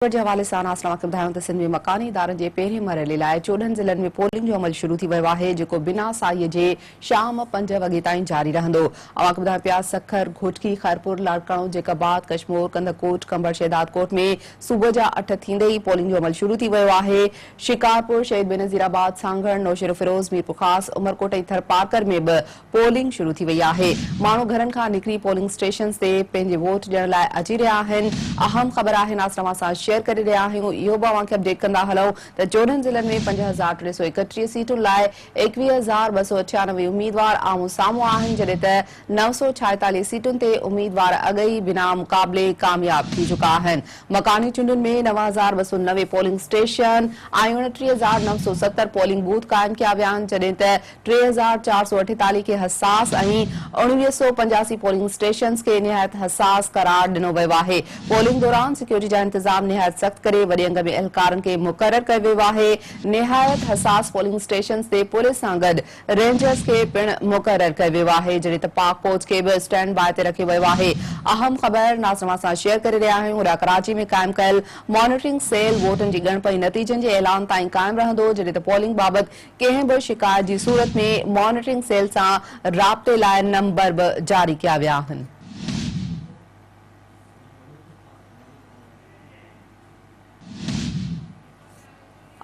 خبر جي حوالي سان اسان اوهان کي ٻڌايون ته سنڌ ۾ مڪاني ادارن جي پهرين مرحلي لاء چوڏهن ضلعن ۾ پولنگ جو عمل شروع ٿي ويو آهي جيڪو بنا ساهيء جي شام پنج وڳي تائين جاري رهندو اوهان کي ٻڌايون پيا سکر گهوٽڪي خيرپور لاڙڪاڻو جيڪب آباد ڪشمور ڪنڌڪوٽ ڪنڀر شهدادڪوٽ ۾ صبح جا اٺ ٿيندي ئي پولنگ جو عمل شروع ٿي ويو آهي شڪارپور شهيد بينظير آباد سانگهڙ نوشهروفيروز ميرپورخاص عمرڪوٽ ۽ ٿرپارڪر ۾ به پولنگ شروع ٿي وئي آهي، ماڻهو گهرن کان نڪري پولنگ اسٽيشنز تي پنهنجي ووٽ ڏيڻ لاء اچي رهيا آهن، اهم خبر آهن اسان اوهان سان شيئر ڪري رهيا آهيون، اهو به اوهان کي اپڊيٽ ڪندا هلئون ته چوڏهن ضلعن ۾ پنج هزار ٽي سؤ ايڪٽيهه سيٽن لاء ايڪويهه هزار ٻه سؤ اٺيانوي اميدوار آمهون سامهون آهن جڏهن ته نو سؤ ڇائيتاليهه سيٽن تي اميدوار اڳ ئي بنا مقابلي ڪامياب ٿي چڪا آهن، مڪاني چونڊن ۾ نو هزار ٻه سؤ نوي پولنگ اسٽيشن ۽ اڻٽيهه هزار نو سؤ ستر پولنگ بوٿ قائم ڪيا ويا آهن جڏهن ته ٽي هزار چار سؤ اٺيتاليهه کي حساس ۽ اڻويهه سؤ پنجاسي پولنگ اسٽيشنز کي نهايت حساس قرار ڏنو ويو آهي. پولنگ دوران سيڪيورٽي جا انتظام نهايت سخت ڪري وڏي انگ ۾ اهلڪارن کي مقرر ڪيو ويو آهي. نهايت حساس پولنگ اسٽيشنز تي پوليس سان گڏ رينجرز کي پڻ مقرر ڪيو ويو آهي، جهڙي ته پاڪ فوج کي به اسٽينڊ باء تي رکيو ويو آهي. اهم خبر ناز توهان سان شيئر ڪري رهيا آهيون هوڏانهن ڪراچي ۾ قائم ڪيل مانيٽرنگ سيل ووٽن جي ڳڻپ ۽ نتيجن جي اعلان تائين قائم رهندو، جڏهن ته پولنگ بابت ڪنهن به شڪايت جي صورت ۾ مانيٽرنگ سيل سان رابطي لاء نمبر به جاري ڪيا ويا آهن.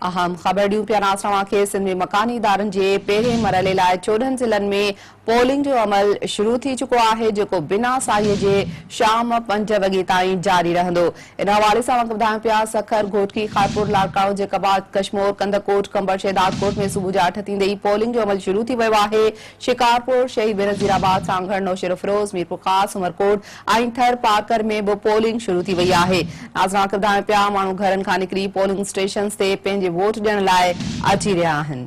اهم خبرڙيون پيا ناس اوهان کي سنڌ ۾ مڪاني ادارن جي پهرين مرحلي لاء چوڏهن ضلعن ۾ پولنگ جو عمل شروع ٿي چڪو آهي جيڪو بنا ساهيء جي شام پنج وڳي تائين جاري رهندو. ان حوالي سان اوهانکي ٻڌايون پيا سکر، گهوٽڪي، خارپور، لاڙڪاڻو، جيڪب آباد، ڪشمور، ڪنڌڪوٽ، قمبر، شهدادڪوٽ ۾ صبح جا اٺ ٿيندي ئي پولنگ جو عمل شروع ٿي ويو آهي. شڪارپور، شهيد بينظير آباد، سانگهڙ، نوشهروفيروز، ميرپورخاص، عمرڪوٽ ۽ ٿر پارڪر ۾ به پولنگ شروع ٿي وئي آهي. ناظرين اوهانکي ٻڌايون پيا ماڻهو گهرن کان نڪري پولنگ اسٽيشنز تي پنهنجي ووٽ ڏيڻ لاء اچي رهيا آهن.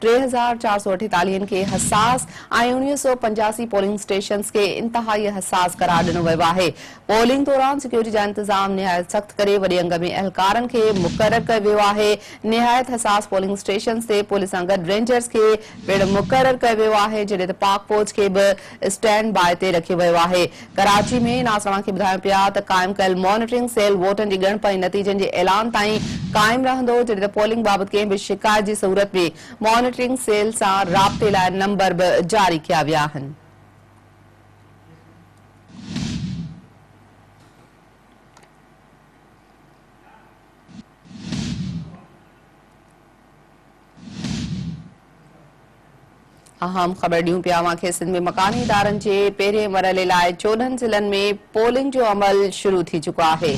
ٽي هزار چار سؤ اٺيتاليهن کي حساس ۽ اڻويهه سؤ پنجاسي پولنگ اسٽيشنز کي انتهائي حساس قرار ڏنو ويو آهي. پولنگ دوران سيڪيورٽي جا انتظام نهايت سخت ڪري وڏي انگ ۾ اهلڪارن کي مقرر ڪيو ويو آهي. نهايت حساس پولنگ اسٽيشنز تي پوليس سان گڏ رينجرز کي پڻ مقرر ڪيو ويو آهي، جڏهن ته پاڪ فوج کي به اسٽينڊ باء تي رکيو ويو آهي. ڪراچي ۾ ناز توهان کي ٻڌايون پيا ته قائم ڪيل مانيٽرنگ سيل ووٽن جي ڳڻپ ۽ نتيجن جي اعلان تائين قائم رهندو جڏهن ته پولنگ بابت ڪنهن به شڪايت جي صورت ۾ مانيٽرنگ سيل سان رابطي لاء نمبر به جاري ڪيا ويا آهن. اهم خبر ڏيون پيا اوهان کي سنڌ ۾ مڪاني ادارن جي پهرين مرحلي لاء چوڏهن ضلعن ۾ پولنگ جو عمل شروع ٿي چڪو آهي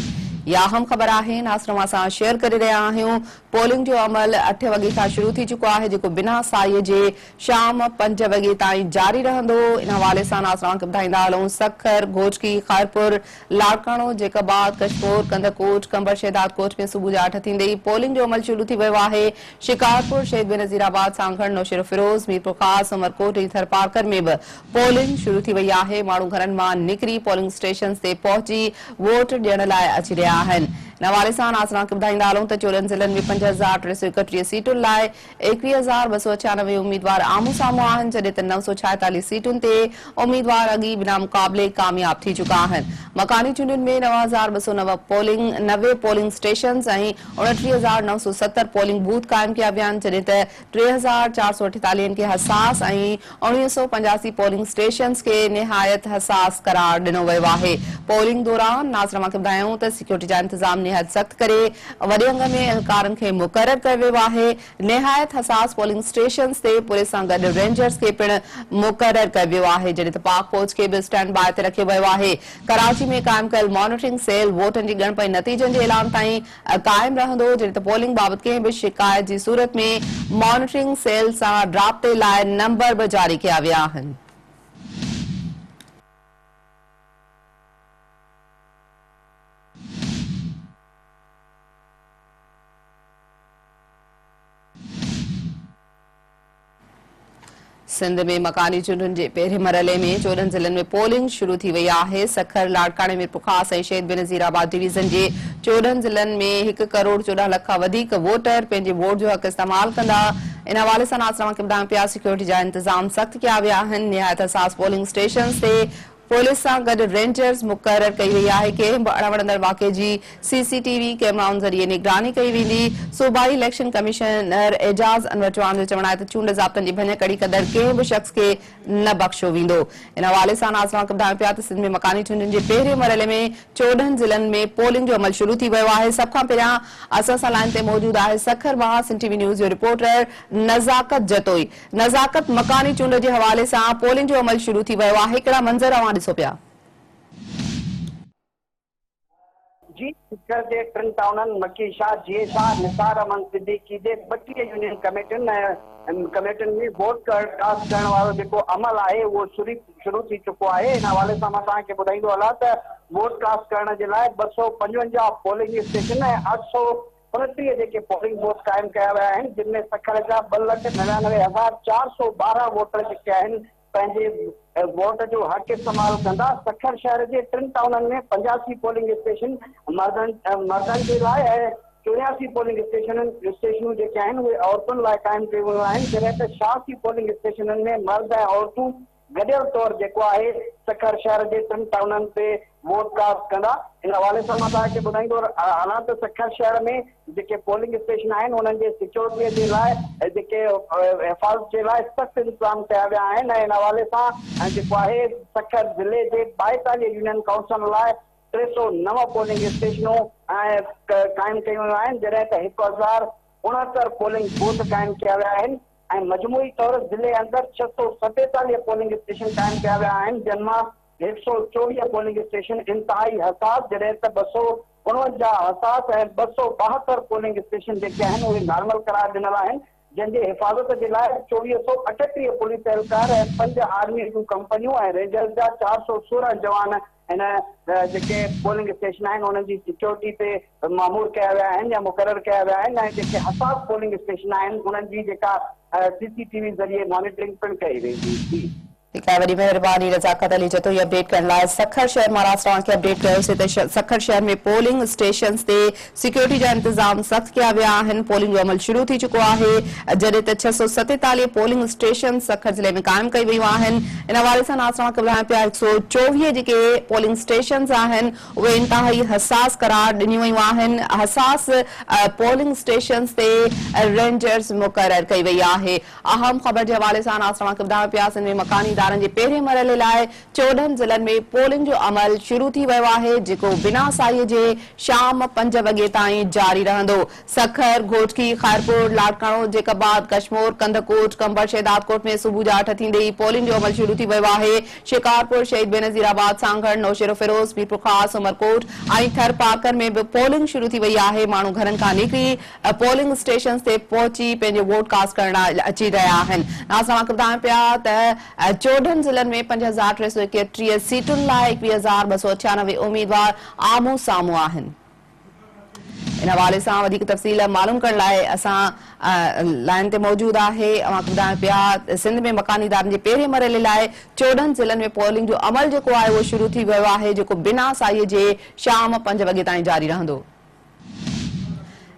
يا اهم خبر آهي ناصر اوهان سان شيئر ڪري رهيا آهيون پولنگ جو عمل اٺ وڳي کان شروع ٿي چڪو آهي جيڪو بنا سائي جي شام پنج وڳي تائين جاري رهندو ان حوالي سان ناصر اوهان کي ٻڌائيندا هلون سکر گهوٽڪي خيرپور لاڙڪاڻو، جيڪب آباد، ڪشمور، ڪنڌڪوٽ، قمبر شهدادڪوٽ ۾ صبح جا اٺ ٿيندي ئي پولنگ جو عمل شروع ٿي ويو آهي، شڪارپور، شهيد بينظير آباد، سانگهڙ، نوشهروفيروز، ميرپورخاص، عمرڪوٽ ۽ ٿرپارڪر ۾ به پولنگ شروع ٿي وئي آهي، ماڻهو گهرن مان نڪري پولنگ اسٽيشنز تي پهچي ووٽ ڏيڻ لاء اچي رهيا آهن، ان حوالي سان ناظران کي ٻڌائيندا هلون ته چولهن ضلعن ۾ پنج هزار ٽي سؤ ايڪٽيهه سيٽن لاء ايڪويهه هزار ٻه سؤ ڇيانوي اميدوار آمهون سامهون آهن، جڏهن ته نو سؤ ڇائيتاليهه سيٽن تي اميدوار اڳ ئي بنا مقابلي ڪامياب ٿي چڪا آهن. مڪاني چونڊن ۾ نو هزار ٻه سؤ نو پولنگ نوي پولنگ اسٽيشنز ۽ اڻٽيهه هزار نو سؤ ستر پولنگ بوٿ قائم ڪيا ويا آهن، جڏهن ته ٽي هزار چار سؤ اٺيتاليهه کي حساس ۽ اڻويهه سؤ پنجاسي پولنگ اسٽيشنز کي نهايت حساس قرار ڏنو ويو آهي، پولنگ دوران ناصر امان کي ٻڌايائون ته سيڪيورٽي جا انتظام نهايت سخت ڪري وڏي انگ ۾ اهلڪارن کي مقرر ڪيو ويو آهي، نهايت حساس پولنگ اسٽيشنز تي پوليس سان گڏ رينجرز کي پڻ مقرر ڪيو ويو آهي، جڏهن ته پاڪ فوج کي به اسٽينڊ باء تي رکيو ويو آهي، ڪراچي ۾ قائم ڪيل مانيٽرنگ سيل ووٽن جي ڳڻپ ۽ نتيجن جي اعلان تائين قائم رهندو جڏهن ته پولنگ بابت ڪنهن به شڪايت جي صورت ۾ مانيٽرنگ سيل سان رابطي لاء نمبر به جاري ڪيا ويا آهن. سنڌ ۾ مڪاني چونڊن جي پهرين مرحلي ۾ چوڏهن ضلعن ۾ پولنگ شروع ٿي وئي آهي. سکر، لاڙڪاڻي، ميرپورخاص ۽ شهيد بينظير آباد ڊويزن جي چوڏهن ضلعن ۾ هڪ ڪروڙ چوڏهن لک کان وڌيڪ ووٽر پنهنجي ووٽ جو حق استعمال ڪندا. ان حوالي سان ناز توهان کي ٻڌايون پيا سيڪيورٽي جا انتظام سخت ڪيا ويا آهن. نهايت حساس پولنگ اسٽيشنز تي پوليس سان گڏ رينجرز مقرر ڪئي وئي آهي، ڪنهن به اڻوڻندڙ واقعي جي سي سي ٽي وي ڪيمرائن ذريعي نگراني ڪئي ويندي، صوبائي اليڪشن ڪمشنر اعجاز انور چوهاڻ جو چوڻ آهي ته چونڊ ضابطن جي ڀڃڪڙي ڪندڙ ڪنهن به شخص کي نه بخشيو ويندو، ان حوالي سان ناز وانڪ ٻڌاين پيا ته سنڌ ۾ مڪاني چونڊن جي پهرين مرحلي ۾ چوڏهن ضلعن ۾ پولنگ جو عمل شروع ٿي ويو آهي، سڀ کان پهريان اسان سان لائين تي موجود آهي سکر مان سنڌ ٽي وي نيوز جو رپورٽر نزاڪت جتوئي. نزاڪت، مڪاني چونڊ جي حوالي سان پولنگ جو عمل شروع ٿي ويو آهي، ڪهڙا منظر اوهان ڏسو پيا؟ جي سکر جي ٽن ٽائونن مڪي شاهه، جيئي شاهه، نثار احمد صديقي جي ٻٽيهه يونين ڪميٽين ۽ ڪميٽين ۾ ووٽ ڪاسٽ ڪرڻ وارو جيڪو عمل آهي اهو شروع ٿي چڪو آهي ان حوالي سان مان توهان کي ٻڌائيندو هلان ته ووٽ ڪاسٽ ڪرڻ جي لاء ٻه سؤ پنجونجاهه پولنگ اسٽيشن ۽ اٺ سؤ انٽيهه جيڪي پولنگ بوٿ قائم ڪيا ويا آهن جن ۾ سکر جا ٻه لک نڙيانوي هزار چار سؤ ٻارهن ووٽر جيڪي آهن پنهنجي ووٽ جو حق استعمال ڪندا سکر شهر جي ٽن ٽائونن ۾ پنجاسي پولنگ اسٽيشن مردن مردن جي لاء ۽ چورياسي پولنگ اسٽيشنن اسٽيشنون جيڪي آهن اهي عورتن لاء قائم ڪيون ويون آهن جڏهن ته شاهه سي پولنگ اسٽيشنن ۾ مرد ۽ عورتون گڏيل طور جيڪو آهي سکر شهر جي ٽن ٽائونن تي ووٽ ڪاسٽ ڪندا ان حوالي سان مان توهان کي ٻڌائيندو هلان ته سکر شهر ۾ جيڪي پولنگ اسٽيشن آهن انهن جي سيڪيورٽي جي لاء جيڪي حفاظت جي لاء سخت انتظام ڪيا ويا آهن ۽ ان حوالي سان جيڪو آهي سکر ضلعي جي ٻائيتاليهه يونين ڪائونسلن لاء ٽي سؤ نو پولنگ اسٽيشنون قائم ڪيون ويون آهن جڏهن ته هڪ هزار اڻهتر پولنگ بوٿ قائم ڪيا ويا آهن. ۽ مجموعي طور ضلعي اندر ڇهه سؤ ستيتاليهه پولنگ اسٽيشن قائم ڪيا ويا آهن جن مان هڪ سؤ چوويهه پولنگ اسٽيشن انتهائي حساس جڏهن ته ٻه سؤ اڻونجاهه حساس ۽ ٻه سؤ ٻاهتر پولنگ اسٽيشن جيڪي آهن اهي نارمل قرار ڏنل آهن جن جي حفاظت جي لاء چوويهه سؤ اٺٽيهه پوليس اهلڪار ۽ پنج آرمي جون ڪمپنيون ۽ رينجرز جا چار سؤ سورهن جوان هن جيڪي پولنگ اسٽيشن آهن انهن جي سيڪيورٽي تي مامور ڪيا ويا آهن يا مقرر ڪيا ويا آهن ۽ جيڪي حساس پولنگ اسٽيشن آهن انهن جي جيڪا سي سي ٽي وي ذريعي مانيٽرنگ پڻ ڪئي ويندي ٿي. ٺيڪ آهي وڏي مهرباني رضاقت علي جتوئي اپڊيٽ ڪرڻ لاء سکر شهر مان راست اوهان کي اپڊيٽ ڪيوسي ته سکر شهر ۾ پولنگ اسٽيشنز تي سيڪيورٽي جا انتظام سخت ڪيا ويا آهن، پولنگ جو عمل شروع ٿي چڪو آهي، جڏهن ته ڇهه سؤ ستيتاليهه پولنگ اسٽيشنز سکر ضلعي ۾ قائم ڪيون ويون آهن، ان حوالي سان ناز توهان کي ٻڌايان پيا هڪ سؤ چوويهه جيڪي پولنگ اسٽيشنز آهن اهي انتهائي حساس قرار ڏنيون ويون آهن، حساس پولنگ اسٽيشنز تي رينجرز مقرر ڪئي وئي آهي، اهم خبر جي حوالي سان ناز توهان کي ٻڌايان پيا سنڌ ۾ مڪاني ادارن جي پهرين مرحلي لاء چوڏهن ضلعن ۾ پولنگ جو عمل شروع ٿي ويو آهي، جيڪو بنا ساهيء جي شام پنج وڳي تائين جاري رهندو. سکر، گهوٽڪي، خيرپور، لاڙڪاڻو، جيڪب آباد، ڪشمور، ڪنڌڪوٽ، قمبر، شهدادڪوٽ ۾ صبح جا اٺ ٿيندي ئي پولنگ جو عمل شروع ٿي ويو آهي. شڪارپور، شهيد بينظير آباد، سانگهڙ، نوشهروفيروز، ميرپورخاص، عمرڪوٽ ۽ ٿرپارڪر ۾ به پولنگ شروع ٿي وئي آهي. ماڻهو گهرن کان نڪري پولنگ اسٽيشنز تي پهچي پنهنجو ووٽ ڪاسٽ ڪرڻ لاء اچي رهيا آهن. ناز توهان کي ٻڌايون پيا ته ۽ چوڏهن ضلعن ۾ پنج هزار ٽي سؤ ايڪيٽيهه سيٽن لاء ايڪويهه هزار ٻه سؤ اٺيانوي اميدوار آمهون سامهون آهن. ان حوالي سان وڌيڪ تفصيل معلوم ڪرڻ لاء اسان لائين تي موجود آهي. اوهان کي ٻڌايون پيا ته سنڌ ۾ مڪاني ادارن جي پهرين مرحلي لاء چوڏهن ضلعن ۾ پولنگ جو عمل جيڪو آهي اهو شروع ٿي ويو آهي جيڪو بنا ساهيء جي شام پنج وڳي تائين جاري رهندو.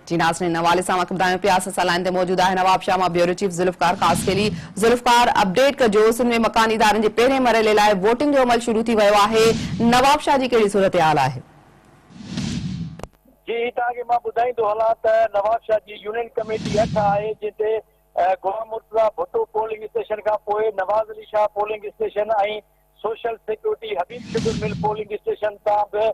جي ناظرين ان حوالي سان اوهان کي ٻڌايون پيا اسان سان لائين تي موجود آهي نوابشاهه مان bureau chief Zulfiqar Khaskheli Zulfiqar update ڪجو سنڌ ۾ مڪاني ادارن جي پهرين مرحلي لاء ووٽنگ جو عمل شروع ٿي ويو آهي نوابشاهه جي ڪهڙي صورتحال آهي. جي توهان کي مان ٻڌائيندو هلان ته نوابشاهه جي يونين ڪميٽي اٺ آهي جنهن تي غلام مرتضيٰ ڀٽو پولنگ اسٽيشن کان پوء Nawaz Ali Shah polling station ۽ social security Habib sugar mill polling station تان به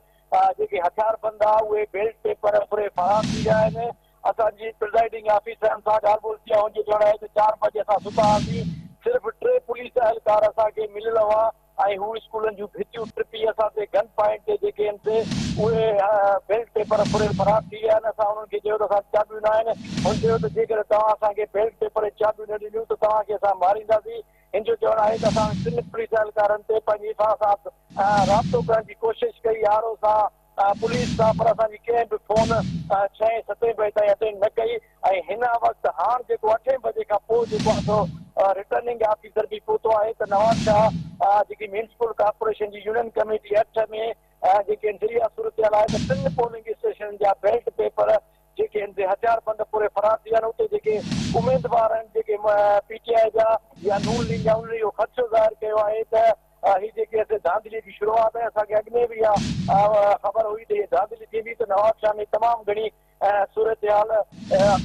جيڪي هٿيار بند آ اهي بيلٽ پيپر پوري فراهم ٿي ويا آهن اسان جي پرزائيڊنگ آفيسرن سان ڳالهه ٻولهه ٿي آ هن جو چوڻ آهي ته چار بجي اسان ستا هئاسين صرف ٽي پوليس اهلڪار اسان کي مليل هئا ۽ هو اسڪولن جون ڀتيون ٽپي اسان تي گن پوائنٽ تي جيڪي هن تي اهي بيلٽ پيپر پوري فراهم ٿي ويا آهن اسان انهن کي چيو ته اسان چاٻيون نه آهن هن چيو ته جيڪڏهن توهان اسان کي بيلٽ پيپر ۽ چاٻيون نه ڏنيون ته توهان کي اسان مارينداسين هن جو چوڻ آهي ته اسان ٽن پوليس اهلڪارن تي پنهنجي ايفا سان رابطو ڪرڻ جي ڪوشش ڪئي، آر او سان، پوليس سان پر اسان جي ڪنهن به فون ڇهين ستين بجي تائين اٽينڊ نه ڪئي ۽ هن وقت هاڻ جيڪو اٺين بجي کان پوء جيڪو آهي سو رٽرننگ آفيسر به پهتو آهي ته نوابشاهه جيڪي ميونسپل ڪارپوريشن جي يونين ڪميٽي اٺ ۾ جيڪي انٽيريا صورتحال آهي ته ٽن پولنگ اسٽيشنن جا بيلٽ پيپر جيڪي هن تي هٿيار بند ڦري فرار ٿي ويا آهن اتي جيڪي اميدوار آهن جيڪي پي ٽي آء جا يا نون ليگ جا انهن اهو خدشو ظاهر ڪيو آهي ته هي جيڪي اسي ڌانڌلي جي شروعات آهي اسان کي اڳ ۾ به اها خبر هئي ته هي ڌانڌلي ٿيندي ته نوابشاهه ۾ تمام گهڻي صورتحال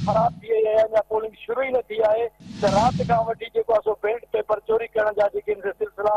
خراب ٿي وئي آهي اڃا پولنگ شروع ئي نه ٿي آهي ته رات کان وٺي جيڪو آهي سو بيلٽ پيپر چوري ڪرڻ جا جيڪي هن تي سلسلا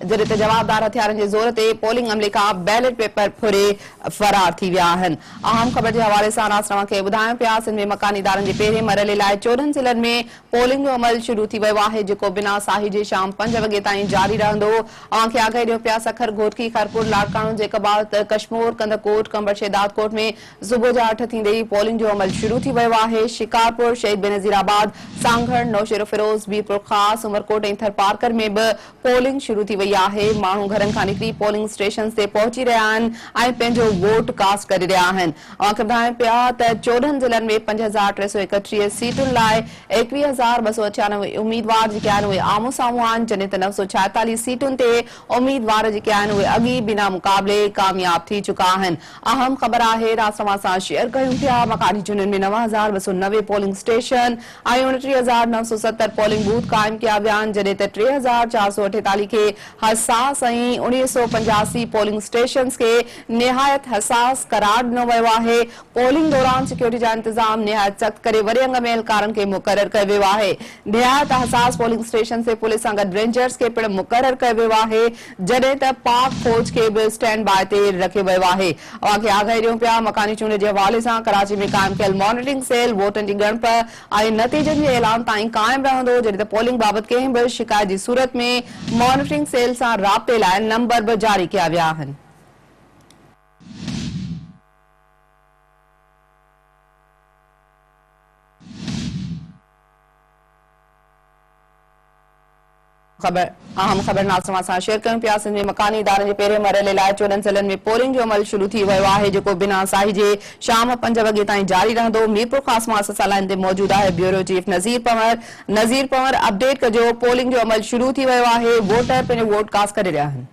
جڏهن ته جوابدار هٿيارن جي زور تي پولنگ عملي کان بيلٽ پيپر ڦري فرار ٿي ويا آهن. اهم خبر جي حوالي سان ناس توهان کي ٻڌايون پيا سنڌ ۾ مڪاني ادارن جي پهرين مرحلي لاء چوڏهن ضلعن ۾ پولنگ جو عمل شروع ٿي ويو آهي جيڪو بنا ساهي جي شام پنج وڳي تائين جاري رهندو اوهان کي آگاهي ڏيون پيا سکر گهوٽڪي خيرپور لاڙڪاڻو جيڪب آباد ڪشمور ڪنڌڪوٽ قمبر شهدادڪوٽ ۾ صبح جا اٺ ٿيندي ئي پولنگ جو عمل شروع ٿي ويو آهي شڪارپور شهيد بينظير آباد سانگهڙ نوشهروفيروز ميرپورخاص عمرڪوٽ ۽ ٿرپارڪر ۾ به پولنگ شروع ٿي وئي آهي، ماڻهو گهرن کان نڪري پولنگ اسٽيشنز تي پهچي رهيا آهن ۽ پنهنجو ووٽ ڪاسٽ ڪري رهيا آهن. اوهان کي ٻڌايون پيا ته چوڏهن ضلعن ۾ پنج هزار ٽي سؤ ايڪٽيهه سيٽن لاء ايڪويهه هزار ٻه سؤ اٺيانوي اميدوار جيڪي آهن اهي آمهون سامهون آهن جڏهن ته نو سؤ ڇايتاليهه سيٽن تي اميدوار جيڪي آهن اهي اڳ ئي بنا مقابلي ڪامياب ٿي چڪا آهن. اهم خبر آهي راز توهان سان شيئر ڪيون پيا مڪاني چونڊن ۾ نو هزار ٻه سؤ نوي پولنگ اسٽيشن آهي اڻٽيهه هزار نو سؤ ستر پولنگ بوٿ قائم ڪيا ويا آهن جڏهن ته ٽي هزار چار سؤ اٺيتاليهه کي حساس ۽ اڻيهه سؤ پنجاسي پولنگ اسٽيشنز کي نهايت حساس قرار ڏنو ويو آهي پولنگ دوران سيڪيورٽي جا انتظام نهايت سخت ڪري وڏي انگ ۾ اهلڪارن کي مقرر ڪيو ويو آهي نهايت حساس پولنگ اسٽيشنز تي پوليس سان گڏ رينجرز کي پڻ مقرر ڪيو ويو آهي جڏهن ته پاڪ فوج کي به اسٽينڊ باء تي رکيو ويو آهي. اوهان کي آگاهي ڏيون پيا، مڪاني چونڊ جي حوالي سان ڪراچي ۾ قائم ڪيل مانيٽرنگ سيل ووٽن جي ڳڻپ ۽ نتيجن جي اعلان تائين قائم رهندو، جڏهن ته پولنگ بابت ڪنهن به شڪايت جي صورت ۾ مانيٽرنگ سيل سان رابطي لاء نمبر به جاري ڪيا ويا آهن. خبر، اهم خبر ناز توهان سان شيئر ڪيون پيا، سنڌ ۾ مڪاني ادارن جي پهرين مرحلي لاء چوڏهن ضلعن ۾ پولنگ جو عمل شروع ٿي ويو آهي جيڪو بنا ساهجي شام پنج وڳي تائين جاري رهندو ميرپورخاص مان اسان سان لائين تي موجود آهي bureau chief Nazir Panhwar Nazir Panhwar update ڪجو پولنگ جو عمل شروع ٿي ويو آهي ووٽر پنهنجو ووٽ ڪاسٽ ڪري رهيا آهن.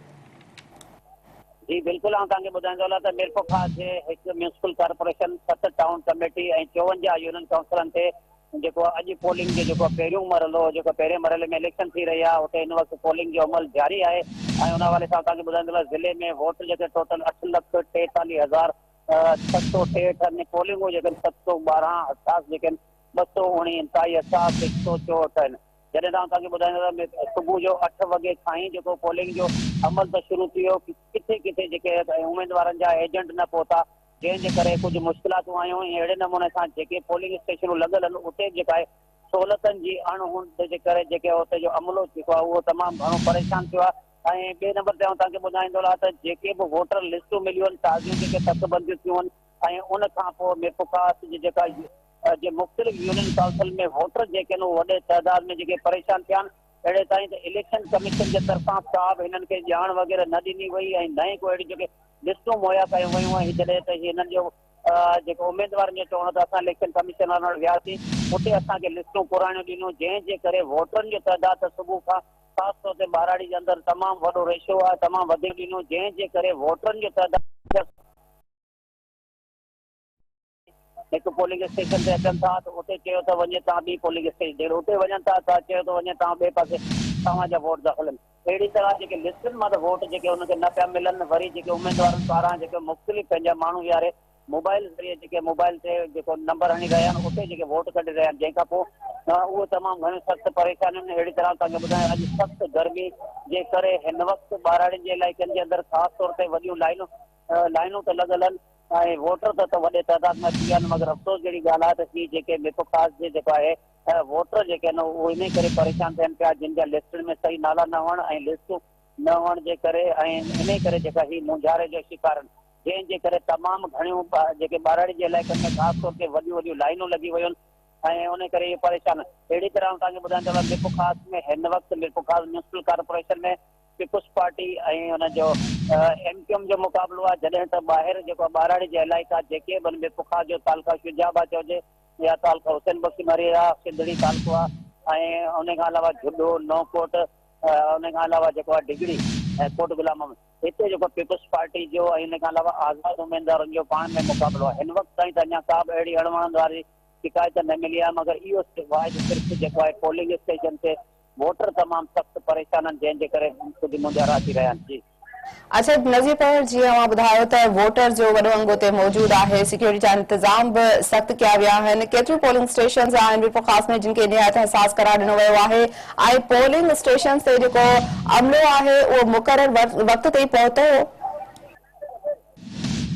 جي بلڪل آئون توهان کي ٻڌائين ٿو هلان ته ميرپورخاص جي هڪ ميونسپل ڪارپوريشن ست ٽائون ڪميٽي ۽ چوونجاهه يونين ڪائونسلن تي جيڪو اڄ پولنگ جو جيڪو پهريون مرحلو هو جيڪو پهرين مرحلي ۾ اليڪشن ٿي رهي آهي اتي هن وقت پولنگ جو عمل جاري آهي ۽ ان حوالي سان اسان کي ٻڌائيندو ته ضلعي ۾ ووٽ جيڪي ٽوٽل اٺ لک ٽيتاليهه هزار ڇهه سؤ ٽيهٺ ۽ پولنگون جيڪي آهن ست سؤ ٻارهن اٺاس جيڪي آهن ٻه سؤ اوڻي انتهائي اٺاس هڪ سؤ چوهٺ آهن جڏهن تان اسان کي ٻڌائيندو ته صبح جو اٺ وڳي کان ئي جيڪو پولنگ جو عمل ته شروع ٿي ويو ڪٿي ڪٿي جيڪي اميدوارن جا ايجنٽ نه پهتا جنهن جي ڪري ڪجهه مشڪلاتون آيون ۽ اهڙي نموني سان جيڪي پولنگ اسٽيشنون لڳل هن اتي به جيڪا آهي سهولتن جي اڻ هوند جي ڪري جيڪي اتي جو عملو جيڪو آهي اهو تمام گهڻو پريشان ٿيو آهي ۽ ٻئي نمبر تي آئون توهان کي ٻڌائيندو رهان ته جيڪي به ووٽر لسٽون مليون آهن تازيون جيڪي تڪ بنديون ٿيون آهن ۽ ان کان پوء ميپوڪاس جي جيڪا جي مختلف يونين ڪائونسل ۾ ووٽر جيڪي آهن اهي وڏي تعداد ۾ جيڪي پريشان ٿيا آهن اهڙي تائين ته اليڪشن ڪميشن جي طرفان ڪا به هنن کي ڄاڻ وغيره نه ڏني وئي ۽ نه ئي ڪو اهڙيون جيڪي لسٽون مهيا ڪيون ويون ۽ جڏهن ته هي هنن جو جيڪو اميدوارن جو چوڻ هو ته اسان اليڪشن ڪميشن وارن وٽ وياسين اتي اسان کي لسٽون پراڻيون ڏنيون جنهن جي ڪري ووٽرن جو تعداد ته صبح کان خاص طور تي ٻهراڙي جي اندر تمام وڏو ريشو آهي تمام وڌيڪ ڏنيون جنهن جي ڪري ووٽرن جو تعداد هڪ پولنگ اسٽيشن تي اچن ٿا ته اتي چيو ته وڃي توهان ٻي پولنگ اسٽيشن تي اتي وڃن ٿا ته چيو ته وڃي توهان ٻئي پاسي توهان جا ووٽ داخل آهن اهڙي طرح جيڪي لسٽن مان ته ووٽ جيڪي انهن کي نه پيا ملن وري جيڪي اميدوارن پاران جيڪي مختلف پنهنجا ماڻهو ويهاري موبائيل ذريعي جيڪي موبائيل تي جيڪو نمبر هڻي رهيا آهن اتي جيڪي ووٽ ڪڍي رهيا آهن جنهن کان پوء اهو تمام گهڻيون سخت پريشانيون اهڙي طرح توهان کي ٻڌايان اڄ سخت گرمي جي ڪري هن وقت ٻهراڙين جي علائقن جي اندر خاص طور تي وڏيون لائينون لائينون ته لڳل هن ۽ ووٽر ته ته وڏي تعداد ۾ اچي ويا هن مگر افسوس جهڙي ڳالهه آهي ته هي جيڪي م پ خاص جي جيڪو آهي ووٽر جيڪي هن اهي انهي ڪري پريشان ٿين پيا جن جا لسٽن ۾ صحيح نالا نه هئڻ ۽ لسٽون نه هئڻ جي ڪري ۽ انهي ڪري جيڪا هي مونجهاري جو شڪار هن جنهن جي ڪري تمام گهڻيون جيڪي ٻهراڙي جي علائقن ۾ خاص طور تي وڏيون وڏيون لائينون لڳي ويون هن ۽ انهي ڪري اهي پريشان هن اهڙي طرح آئون توهان کي ٻڌائيندو هلان م پ خاص ۾ هن وقت م پ خاص ميونسپل ڪارپوريشن ۾ پيپلز پارٽي ۽ ان جو ايم ڪيو ايم جو مقابلو آهي جڏهن ته ٻاهر جيڪو آهي ٻاراڙي جي علائقا جيڪي به آهن پوکا جو تعلقه شجاع آباد چئجي يا تعلقه حسين بخش مري يا سنڌڙي تعلقو آهي ۽ ان کان علاوه جهڏو نوڪوٽ ان کان علاوه جيڪو آهي ڊگهڙي ۽ ڪوٽ غلام محمد هتي جيڪو پيپلز پارٽي جو ۽ ان کان علاوه آزاد اميدوارن جو پاڻ ۾ مقابلو آهي هن وقت تائين ته اڃا ڪا به اهڙي اڻوڻندڙ واري شڪايت نه ملي آهي مگر اهو صرف آهي ته صرف جيڪو آهي پولنگ اسٽيشن تي ووٽر تمام سخت پريشان آهن جنهن جي ڪري ڪجهه مونجهارا اچي رهيا آهن. اسد نذيرپهر جيئن اوهان ٻڌايو ته ووٽر جو وڏو انگ اتي موجود آهي سيڪيورٽي جا انتظام به سخت ڪيا ويا آهن ڪيتريون پولنگ اسٽيشنز آهن ريپو خاص ۾ جن کي نهايت حساس قرار ڏنو ويو آهي ۽ پولنگ اسٽيشنز تي جيڪو عملو آهي اهو مقرر وقت تي پهتو هو؟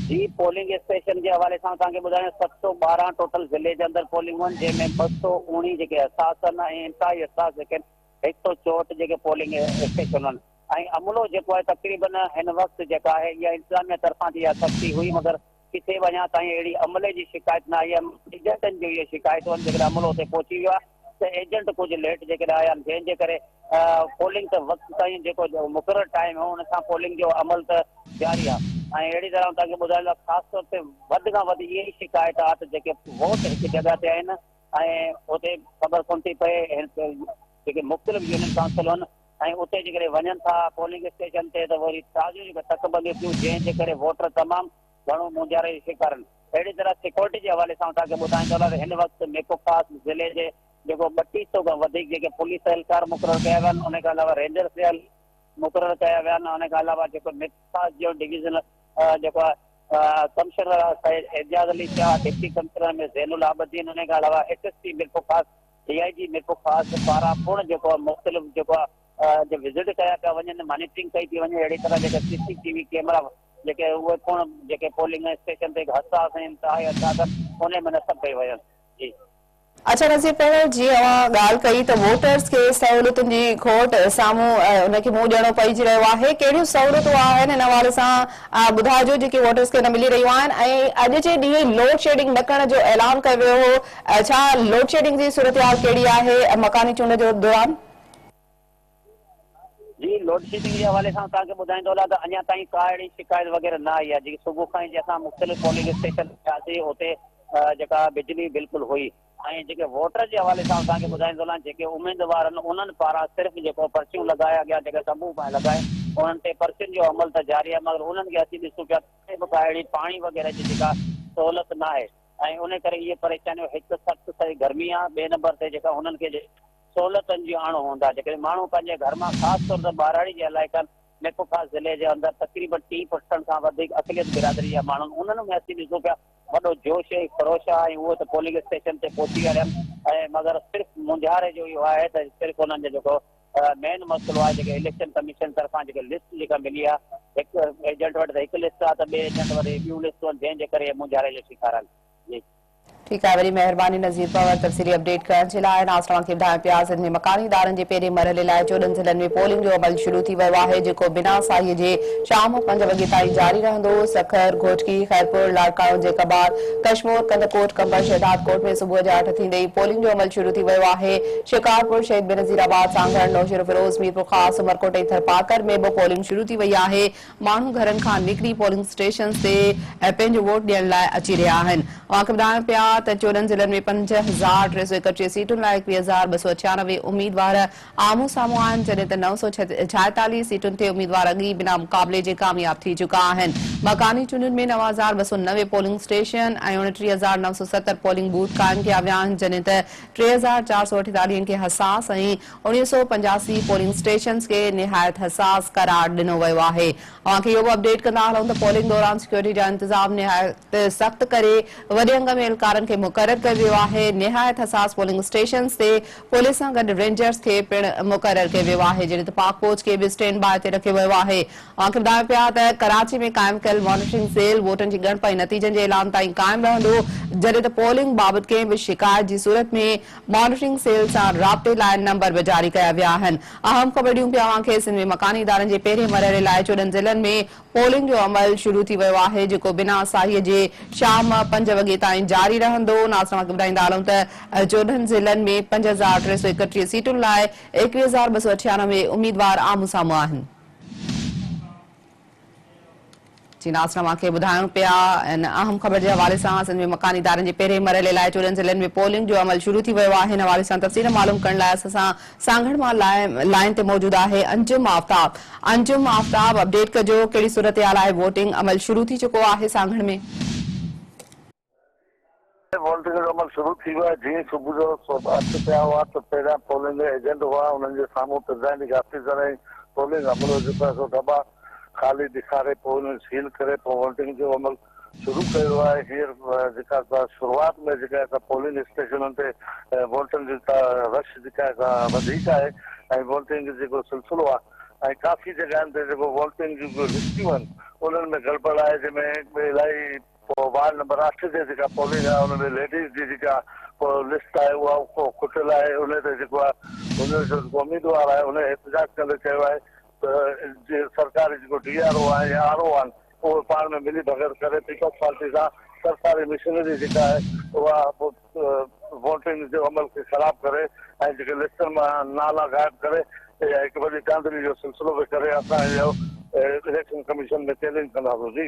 جي پولنگ اسٽيشن جي حوالي سان توهان کي ٻڌايان ست سؤ ٻارهن ٽوٽل ضلعي جي اندر پولنگون آهن جنهن ۾ ٻه سؤ اوڻي جيڪي حساس آهن ۽ انتهائي حساس جيڪي آهن هڪ سؤ چوهٺ جيڪي پولنگ اسٽيشنون آهن ۽ عملو جيڪو آهي تقريبن هن وقت جيڪا آهي اها انتظاميه طرفان ته اها سختي هئي مگر ڪٿي به اڃا تائين اهڙي عملي جي شڪايت نه آئي آهي ايجنٽن جون اهي شڪايتون آهن جيڪڏهن عملو اتي پهچي ويو آهي ته ايجنٽ ڪجهه ليٽ جيڪڏهن آيا آهن جنهن جي ڪري پولنگ ته وقت تائين جيڪو مقرر ٽائيم هو ان سان پولنگ جو عمل ته جاري آهي ۽ اهڙي طرح آئون توهانکي ٻڌائيندو آهيان خاص طور تي وڌ کان وڌ اهي ئي شڪايتات جيڪي ووٽ هڪ جڳهه تي آهن ۽ اتي خبر ڪونه ٿي پئي جيڪي مختلف يونين ڪائونسلون آهن ۽ اتي جيڪڏهن وڃن ٿا پولنگ اسٽيشن تي ته وري تازيون جيڪي تڪ بنديون ٿيون جنهن جي ڪري ووٽر تمام گهڻو مونجهاري جو شڪارن. اهڙي طرح سيڪيورٽي جي حوالي سان توهان کي ٻڌائين ٿو ته هن وقت ميرپور خاص ضلعي جي جيڪو ٻٽيهه سئو کان وڌيڪ جيڪي پوليس اهلڪار مقرر ڪيا ويا آهن ان کان علاوه رينجرز جي اهل مقرر ڪيا ويا آهن ان کان علاوه جيڪو ميرپور خاص جو ڊويزن جيڪو آهي commissioner Syed Ejaz Ali Shah deputy commissioner M A Zain ul Abideen ان کان علاوه S S P Mirpur Khas D آء جي ميرپور خاص پاران پڻ جيڪو آهي مختلف جيڪو آهي وزٽ ڪيا پيا وڃن مانيٽرنگ ڪئي پيئي وڃي اهڙي طرح جيڪا C C T V camera جيڪي اهي پڻ جيڪي پولنگ اسٽيشن تي حساس ۽ انتهائي اچاڳن ڪونهي ۾ نصب ڪيون ويون جي. اچا نظير پهريون جيئن اوهان ڳالهه ڪئي ته ووٽرز کي سهولتن جي کوٽ سامهون ان کي منهن ڏيڻو پئجي رهيو آهي ڪهڙيون سهولتون آهن ان حوالي سان ٻڌائجو جيڪي ووٽرز کي نه ملي رهيون آهن ۽ اڄ جي ڏينهن لوڊ شيڊنگ نه ڪرڻ جو اعلان ڪيو ويو هو ڇا لوڊ شيڊنگ جي صورتحال ڪهڙي آهي مڪاني چونڊ جو دوران جي لوڊشيڊنگ جي حوالي سان اسان کي ٻڌائين ٿو لاء ته اڃا تائين ڪا اهڙي شڪايت وغيره نه آئي آهي جيڪي صبح کان جي اسان مختلف پولنگ اسٽيشن وياسي اتي جيڪا بجلي بلڪل هئي ۽ جيڪي ووٽر جي حوالي سان اسان کي ٻڌائين ٿو لاء جيڪي اميدوارن انهن پاران صرف جيڪو پرچيون لڳائي اڳيان جيڪي تنبو پائي لڳائي انهن تي پرچين جو عمل ته جاري آهي مگر انهن کي اچي ڏسون پيا ته به ڪا اهڙي پاڻي وغيره جي جيڪا سهولت نه آهي ۽ ان ڪري اهي پريشانيون هڪ ته سخت سائي گرمي آهي ٻئي نمبر تي جيڪا انهن کي سهولتن جي اڻ هوند آهي، جيڪڏهن ماڻهو پنهنجي گهر مان خاص طور تي ٻهراڙي جي علائقن ۾ڪوڪا ضلعي جي اندر تقريبن ٽي پرسنٽ کان وڌيڪ اقليت برادري جا ماڻهن انهن ۾ اسين ڏسون پيا وڏو جوش ۽ خروش آهي ۽ اهي ته پولنگ اسٽيشن تي پهچي ويا آهن ۽ مگر صرف مونجهاري جو اهو آهي ته صرف انهن جو جيڪو مين مسئلو آهي جيڪي اليڪشن ڪميشن طرفان جيڪي لسٽ جيڪا ملي آهي هڪ ايجنٽ وٽ ته هڪ لسٽ آهي ته ٻئي ايجنٽ وٽ ٻيون لسٽون جنهن جي ڪري مونجهاري جو شڪار آهن جي ٺيڪ آهي وري مهرباني نذير پنور تفصيلي اپڊيٽ ڪرڻ جي لاء ناز توهان کي ٻڌايان پيا سنڌ ۾ مڪاني ادارن جي پهرين مرحلي لاء چوڏهن ضلعن ۾ پولنگ جو عمل شروع ٿي ويو آهي جيڪو بنا ساهي جي شام پنج وڳي تائين جاري رهندو سکر گهوٽڪي خيرپور لاڙڪاڻو جيڪبار ڪشمور ڪنڌڪوٽ قمبر شهدادڪوٽ ۾ صبح جي اٺ ٿيندي ئي پولنگ جو عمل شروع ٿي ويو آهي شڪارپور شهيد بينظير آباد سانگهڙ نوشهروفيروز ميرپورخاص عمرڪوٽ ۽ ٿرپارڪر ۾ به پولنگ شروع ٿي وئي آهي ماڻهو گهرن کان نڪري پولنگ اسٽيشنز تي پنهنجو ووٽ ڏيڻ لاء اچي رهيا آهن. اوهانکي ٻڌايان پيا ته چوڏهن ضلعن ۾ پنج هزار ٽي سؤ ايڪٽيهه سيٽن لاء ايڪويهه هزار ٻه سؤ ڇيانوي اميدوار آمهون سامهون آهن جڏهن ته نو سؤ ڇاهيتاليهه سيٽن تي اميدوار اڳ ئي بنا مقابلي جي ڪامياب ٿي چڪا آهن. مڪاني چونڊن ۾ نو هزار ٻه سؤ نوي پولنگ اسٽيشن ۽ اڻٽيهه هزار نو سؤ ستر پولنگ بوٿ قائم ڪيا ويا آهن جڏهن ته ٽي هزار چار سؤ اٺيتاليهه کي حساس ۽ اڻيهه سؤ پنجاسي پولنگ اسٽيشنز کي نهايت حساس قرار ڏنو ويو آهي، اوهان کي اهو به اپڊيٽ ڪندا هلون ته پولنگ دوران سيڪيورٽي جا انتظام نهايت سخت ڪري وڏي انگ ۾ اهلڪارن کي مقرر ڪيو ويو آهي، نهايت حساس پولنگ اسٽيشنز تي پوليس سان گڏ رينجرز کي پڻ مقرر ڪيو ويو آهي، جڏهن ته پاڪ فوج کي به اسٽينڊ باء تي رکيو ويو آهي، اوهان کي ٻڌايون پيا ته ڪراچي ۾ قائم ڪيل مانيٽرنگ سيل ووٽن جي ڳڻپ ۽ نتيجن جي اعلان تائين قائم رهندو، جڏهن ته پولنگ بابت ڪنهن به شڪايت جي صورت ۾ مانيٽرنگ سيل سان رابطي لاء نمبر به جاري ڪيا ويا آهن. اهم خبرڙيون به اوهان کي سنڌ ۾ مڪاني ادارن جي پهرين مرحلي لاء چوڏهن ضلعن ۾ پولنگ جو عمل شروع ٿي ويو آهي جيڪو بنا ساهيء جي شام پنج وڳي تائين جاري رهندو ناز توهان کي ٻڌائيندا هلون ته چوڏهن ضلعن ۾ پنج هزار ٽي سؤ اڪٽيهه سيٽن لاء ايڪويهه هزار ٻه سؤ اٺيانوي اميدوار آمهون سامهون آهن. جي ناز نواز کي ٻڌايون پيا ان اهم خبر جي حوالي سان سنڌ ۾ مڪاني ادارن جي پهرين مرحلي لاء چورين ضلعن ۾ پولنگ جو عمل شروع ٿي ويو آهي ان حوالي سان تفصيل معلوم ڪرڻ لاء اسان سان سانگهڙ مان لائين تي موجود آهي انجم آفتاب انجم آفتاب اپڊيٽ ڪجو ڪهڙي صورتحال آهي ووٽنگ عمل شروع ٿي چڪو آهي سانگهڙ ۾ ووٽنگ جو عمل شروع ٿي ويو آهي، جيئن ئي صبح جو سوڀا اٺ ٿيا هئا ته پهريان پولنگ ايجنٽ هئا، انهن جي سامهون پرزائيڊنگ آفيسر ۽ پولنگ عملو جيڪو آهي سو دٻا خالي ڏيکاري پوء انهن سيل ڪري پوء ووٽنگ جو عمل شروع ڪيو ويو آهي، هينئر جيڪا سا شروعات ۾ جيڪا آهي سا پولنگ اسٽيشنن تي ووٽرن جي سا رش جيڪا آهي سا وڌيڪ آهي ۽ ووٽنگ جيڪو سلسلو آهي ۽ ڪافي جڳهن تي جيڪو ووٽنگ جون لسٽيون آهن انهن ۾ گڙٻڙ آهي جنهن ۾ الاهي پوء وارڊ نمبر اٺ تي جيڪا پولنگ آهي ان ۾ ليڊيز جي جيڪا لسٽ آهي اها کٽيل آهي انهي تي جيڪو آهي هن جو جيڪو اميدوار آهي انهي احتجاج ڪندي چيو آهي ته جي سرڪاري جيڪو ڊي آر او آهن يا آر او آهن اهي پاڻ ۾ ملي ڀڳت ڪري پيپلز پارٽي سان سرڪاري مشنري جيڪا آهي اها ووٽنگ جي عمل کي خراب ڪري ۽ جيڪي لسٽن مان نالا غائب ڪري هڪ وڏي ڌانڌلي جو سلسلو به ڪري اسان اهو اليڪشن ڪميشن ۾ چيلينج ڪنداسون جي.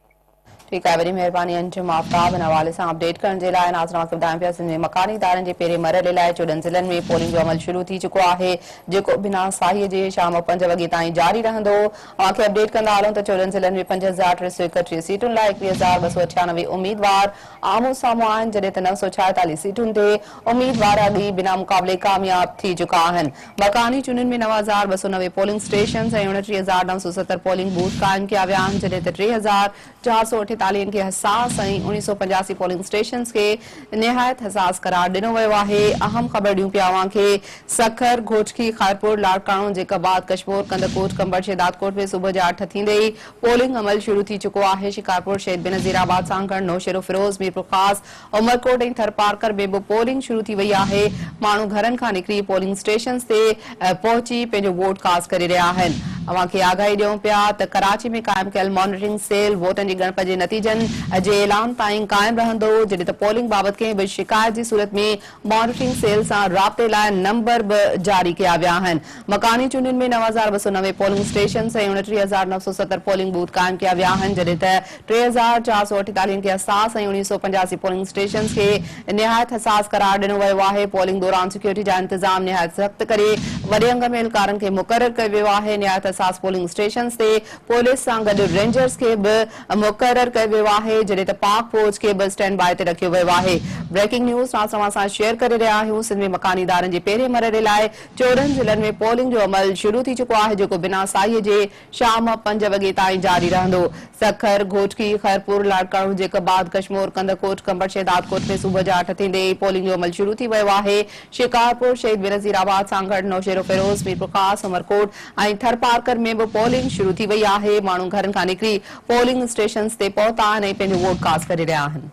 ٺيڪ آهي وڏي مهرباني انجم آفتاب ان حوالي سان اپڊيٽ ڪرڻ جي لاء ناظرن اوهان کي ٻڌايون پيا سنڌ ۾ مڪاني ادارن جي پهرين مرحلي لاء چوڏهن ضلعن ۾ پولنگ جو عمل شروع ٿي چڪو آهي جيڪو بنا ساهي جي شام پنج وڳي تائين جاري رهندو اوهان کي اپڊيٽ ڪندا هلون ته چوڏهن ضلعن ۾ پنج هزار ٽي سو ايڪٽيهه سيٽن لاء ايڪويهه هزار ٻه سو اٺيانوي اميدوار آمهون سامهون آهن جڏهن ته نو سو ڇاهيتاليهه سيٽن تي اميدوار اڳ ئي بنا مقابلي ڪامياب ٿي چڪا آهن مڪاني چونڊن ۾ نو هزار ٻه سؤ نوي پولنگ اسٽيشنز ۽ اڻٽيهه هزار نو سؤ ستر پولنگ بوٿ قائم ڪيا ويا آهن جڏهن ته ٽي هزار چار سؤ اٺيتاليهن کي حساس ۽ اڻ سؤ پنجاسي پولنگ اسٽيشنز کي نهايت حساس قرار ڏنو ويو آهي. اهم خبر ڏيون پيا اوهان کي سکر، گهوٽڪي، خيرپور، لاڙڪاڻو، جيڪب آباد، ڪشمور، ڪنڌڪوٽ، ڪنڀر، شهدادڪوٽ ۾ صبح جي اٺ ٿيندي ئي پولنگ عمل شروع ٿي چڪو آهي شڪارپور، شهيد بينظير آباد، سانگهڙ، نوشهروفيروز، ميرپورخاص، عمرڪوٽ ۽ ٿرپارڪر ۾ به پولنگ شروع ٿي وئي آهي، ماڻهو گهرن کان نڪري پولنگ اسٽيشنز تي پهچي پنهنجو ووٽ ڪاسٽ ڪري رهيا آهن، اوهان کي آگاهي ڏيون پيا ته ڪراچي ۾ قائم ڪيل مانيٽرنگ سيل ووٽن جي ڳڻپ جي نتيجن جي اعلان تائين قائم رهندو، جڏهن ته پولنگ بابت ڪنهن به شڪايت جي صورت ۾ مانيٽرنگ سيل سان رابطي لاء نمبر به جاري ڪيا ويا آهن، مڪاني چونڊن ۾ نو هزار ٻه سؤ نوي پولنگ اسٽيشنز ۽ اڻٽيهه هزار نو سؤ ستر پولنگ بوٿ قائم ڪيا ويا آهن، جڏهن ته ٽي هزار چار سؤ اٺيتاليهن کي حساس ۽ اڻيهه سؤ پنجاسي پولنگ اسٽيشنز کي نهايت حساس قرار ڏنو ويو آهي، پولنگ دوران سيڪيورٽي جا انتظام نهايت سخت ڪري وڏي انگ ۾ اهلڪارن کي مقرر ڪيو ويو آهي، نهايت حساس پولنگ اسٽيشنز تي پوليس سان گڏ رينجرز کي به مقرر ڪيو ويو آهي جڏهن ته پاڪ فوج کي به اسٽينڊ باء تي رکيو ويو آهي بريڪنگ نيوز فرانس اوهان سان شيئر ڪري رهيا آهيون سنڌ ۾ مڪاني ادارن جي پهرين مرحلي لاء چورنهن ضلعن ۾ پولنگ جو عمل شروع ٿي چڪو آهي جيڪو بنا ساهي جي شام پنج وڳي تائين جاري رهندو سکر گهوٽڪي خيرپور لاڙڪاڻو جيڪب آد ڪشمور ڪنڌڪوٽ ڪنڀر شهدادڪوٽ ۾ صبح جا اٺ ٿيندي ئي پولنگ جو عمل شروع ٿي ويو آهي شڪارپور، شهيد بينظير آباد سان گڏ نوشهروفيروز، ميرپورخاص، عمرڪوٽ ۽ ٿرپارڪر ۾ به پولنگ شروع ٿي وئي آهي، ماڻهو گهرن کان نڪري پولنگ اسٽيشنز تي پهتا آهن ۽ پنهنجو ووٽ ڪاسٽ ڪري رهيا آهن.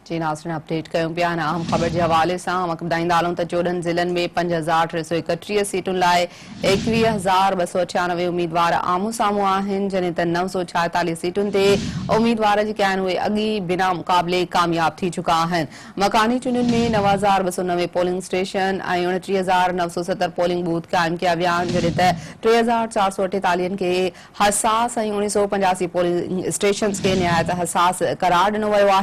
جي ناظرين اپڊيٽ ڪيون پيا هن اهم خبر جي حوالي سان اوهانکي ٻڌائيندا هلون ته چوڏهن ضلعن ۾ پنج هزار ٽي سو ايڪٽيهه سيٽن لاء ايڪويهه هزار ٻه سو اٺيانوي اميدوار آمهون سامهون آهن جڏهن ته نو سو ڇائيتاليهه سيٽن تي اميدوار جيڪي آهن اهي اڳ ئي بنا مقابلي ڪامياب ٿي چڪا آهن مڪاني چونڊن ۾ نو هزار ٻه سو نوي پولنگ اسٽيشن ۽ اڻٽيهه هزار نو سو ستر پولنگ بوٿ قائم ڪيا ويا آهن جڏهن ته ٽي هزار چار سو اٺيتاليهن کي حساس ۽ اڻ سو پنجاسي پولنگ اسٽيشنز کي نهايت حساس قرار ڏنو ويو آهي